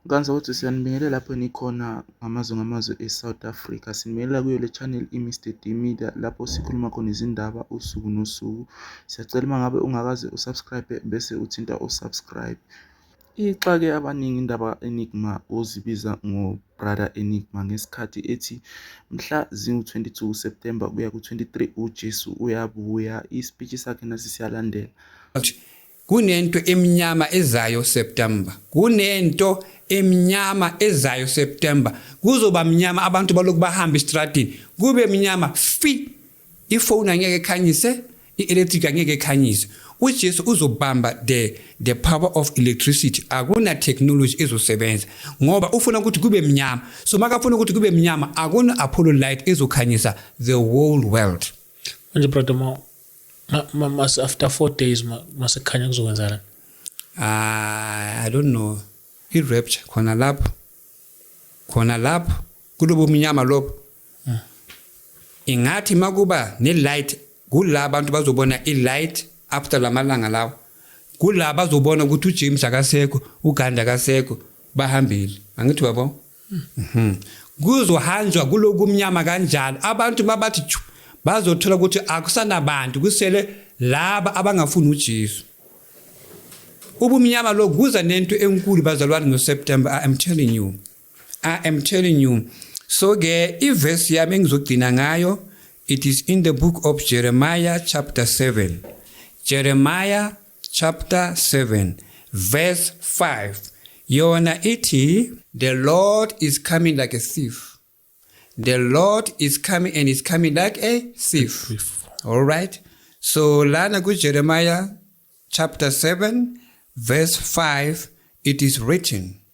Nkansa uthi siyanibingelela lapho nikhona ngamazwe ngamazwe e-South Africa. Sinibingelela kuyo le channel i-Mr D Media lapho sikhuluma khona izindaba usuku nosuku. Siyacela uma ngabe ungakaze usubscribe bese uthinta usubscribe. Ixake abaningi indaba Enigma ozibiza ngobrother Enigma ngesikhathi ethi mhla ziwu-22 September kuya ku-23 uJesu uyabuya. Ispeech sakhe nasi siyalandela. Kunento emnyama ezayo September. Kunento emnyama ezayo September. Kuzoba mnyama abantu balokhu bahamba estradini. Kube mnyama fi. Ifoni angeke ekhanyise, i-electric angeke ekhanyise. uJesu uzobamba the the power of electricity akuna technology ezosebenza ngoba ufuna ukuthi kube mnyama so makafuna ukuthi kube mnyama akuna apollo light ezokhanyisa the whole world manje brother mo Ma, ma, mas, after four days ma- masekhanya kuzokwenzakala Ah, i don't know i-rapture khona lapho khona lapho kulobo mnyama lobo ingathi makuba ne-light kula abantu bazobona i-light after la malanga lawo kula bazobona ukuthi ujames akasekho uganda akasekho bahambile angithi babo Mhm. Kuzohanjwa kulokumnyama kanjalo. Abantu mabathi bazothola ukuthi akusanabantu kusele laba abangafuni uJesu. Ubumnyama lo kuza nento enkulu bazalwane ngoSeptember I am telling you. I am telling you. So ke iverse yami engizogcina ngayo it is in the book of Jeremiah chapter 7. Jeremiah chapter 7 verse 5 yona ithi the lord is coming like a thief the lord is coming and is coming like a thief all right so lana kujeremiah chapter 7 verse 5 it is written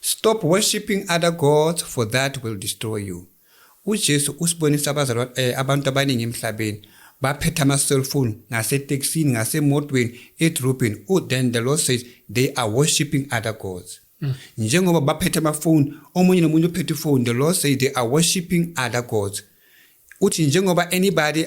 Stop worshipping other gods for that will destroy you. UJesu usibonisa abazalwane eh, abantu abaningi emhlabeni baphethe ama-cellphone ngaseteksini ngasemotweni edrobheni oh, then the lord says they are worshipping other gods mm. njengoba baphethe amafoni omunye nomunye uphethe ifoni the lord says they are worshipping other gods uthi njengoba anybody